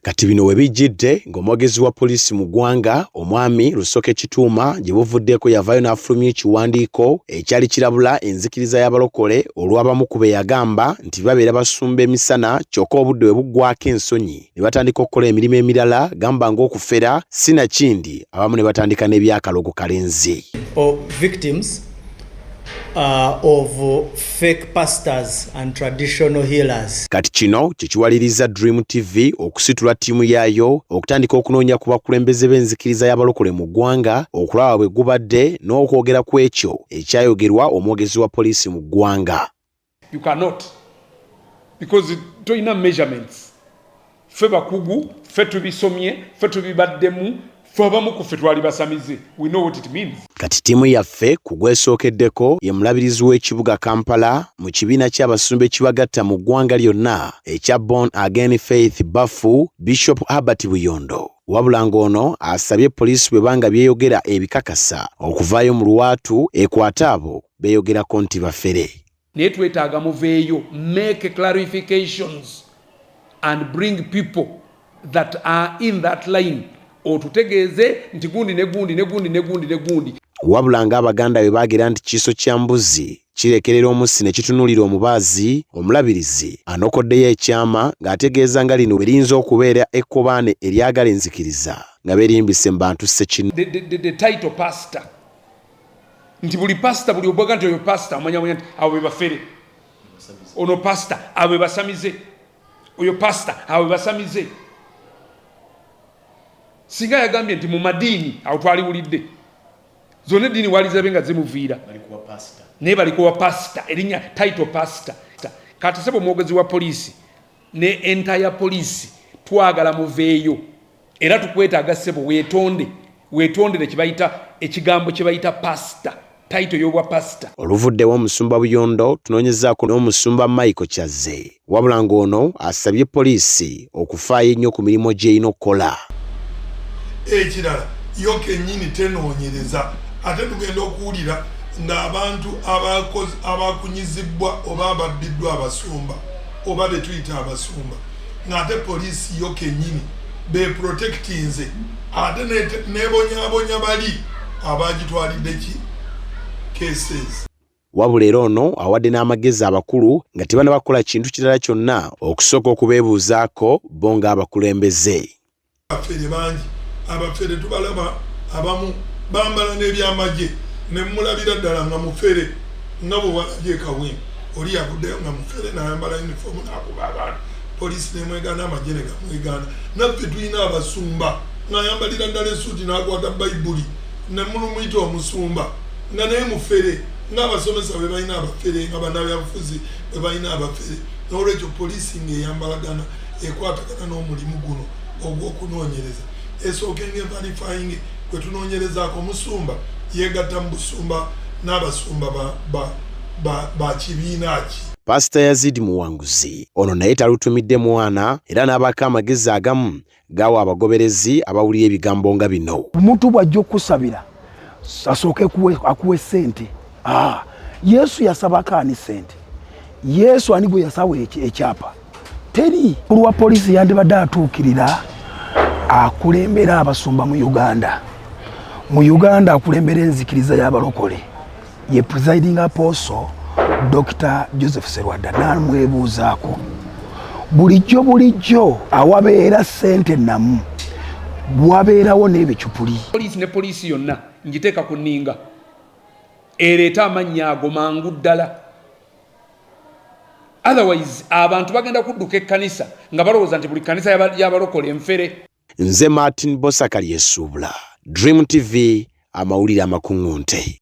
Kati bino we bijjidde ng'omwogezi wa poliisi mu ggwanga omwami Rusoke Kituuma gye buvuddeeko yavaayo n'afulumya ekiwandiiko ekyali kirabula enzikiriza y'abalokole olw'abamu ku be yagamba nti babeera basumba emisana kyokka obudde we buggwako ensonyi ne batandika okukola emirimu emirala gamba ng'okufera sinakindi abamu ne batandika n'ebyakalogo kalenzi. uh, of fake pastors and traditional healers. Kati kino kyekiwaliriza Dream TV okusitula tiimu yaayo okutandika okunoonya ku bakulembeze b'enzikiriza y'abalokole mu ggwanga okulaba bwe gubadde n'okwogera ku ekyo ekyayogerwa omwogezi wa poliisi mu ggwanga. You cannot because toyina measurements fe bakugu fe tubisomye fe tubibaddemu fe abamu ku ffe twali basamize we know what it means Kati ttiimu yaffe ku gwesookeddeko ye mulabirizi w'ekibuga Kampala mu kibiina ky'abasumba ekibagatta mu ggwanga lyonna ekya Born Again Faith Bafu Bishop Herbert Buyondo wabula ng'ono asabye poliisi bwe banga byeyogera ebikakasa okuvaayo mu lwatu ekwate abo beyogerako nti bafere. Naye twetaaga muveeyo make clarifications and bring people that are in that line otutegeeze nti gundi ne gundi ne gundi ne gundi ne gundi. Wabula nga Abaganda bwe baagira nti kiiso kya mbuzi kirekerera omussi ne kitunuulira omubaazi, Omulabirizi anokoddeyo ekyama ng'ategeeza nga lino bwe liyinza okubeera ekkobaane eryagala enzikiriza nga beerimbise mu bantu ssekinu. nti buli pasita buli ogwaga nti oyo pasita omanyamanya nti abo bebafere ono pasita abo bebasamize oyo pasita abo bebasamize singa yagambye nti mu madiini awo twaliwulidde zonna eddiini walizabe nga zimuviira naye balikuwa pasita erinya title pasita kati sebo omwogezi wa poliisi ne enta ya poliisi twagala muveeyo era tukwetaaga ssebo weetonde weetondere kyebayita ekigambo kyebayita pasita tayito y'obwa pasita oluvuddewo omusumba buyondo tunoonyezaako n'omusumba michael kyazze wabula ng'ono asabye poliisi okufaayo ennyo ku mirimu gy'erina okukola ekirala yo kennyini tenoonyereza ate tugenda okuwulira ng'abantu abakunyizibbwa oba ababbiddwa abasumba oba betuyita abasumba ng'ate poliisi yo kennyini beeprotekitinze ate nebonyabonya bali abaagitwalidde ki cases wabula era ono awadde n'amagezi abakulu nga tebanabakola kintu kirala kyonna okusooka okubeebuuzaako bo ng'abakulembeze Abafere bangi abafere tubalaba abamu bambala n'ebyamagye ne mulabira ddala nga mufere nga bwe walabye e Kawempe oli yavuddeyo nga mufere nayambala yunifoomu nakuba abantu poliisi nemwegaana amagye ne gamwegaana naffe tulina abasumba ng'ayambalira ddala esuuti n'akwata bayibuli ne mulumuyita omusumba nga naye mufere ng'abasomesa bwe balina abafere nga banabyabufuzi bwe balina abafere n'olwekyo poliisi ng'eyambalagana ekwatagana n'omulimu guno ogw'okunoonyereza esooka engevalifayinge kwe tunoonyerezaako omusumba yeegatta mu busumba n'abasumba ba, ba, ba, ba kibiina ki pasita yazidi muwanguzi ono naye talutumidde mwana era n'abaako amagezi agamu gaawa abagoberezi abawulira ebigambo nga bino omuntu bw'ajja okusabira asooke akuwe sente ah, yesu yasabako ani sente yesu ani gwe yasawa ekyapa teri olwa polisi yandibadde atuukirira akulembera abasumba mu uganda mu uganda akulembera enzikiriza y'abalokole ye presiding apostle dr joseph serwada namwebuuzaako bulijjo bulijjo awabeera sente namu wabeerawo n'ebicupuli poliisi ne poliisi yonna ngiteeka ku nninga ereeta amannya ago mangu ddala otherwise abantu bagenda kudduka ekkanisa nga balowooza nti buli kkanisa yabalokola enfere nze martin bosakali esuubula dream tv amawulire amakuŋŋunte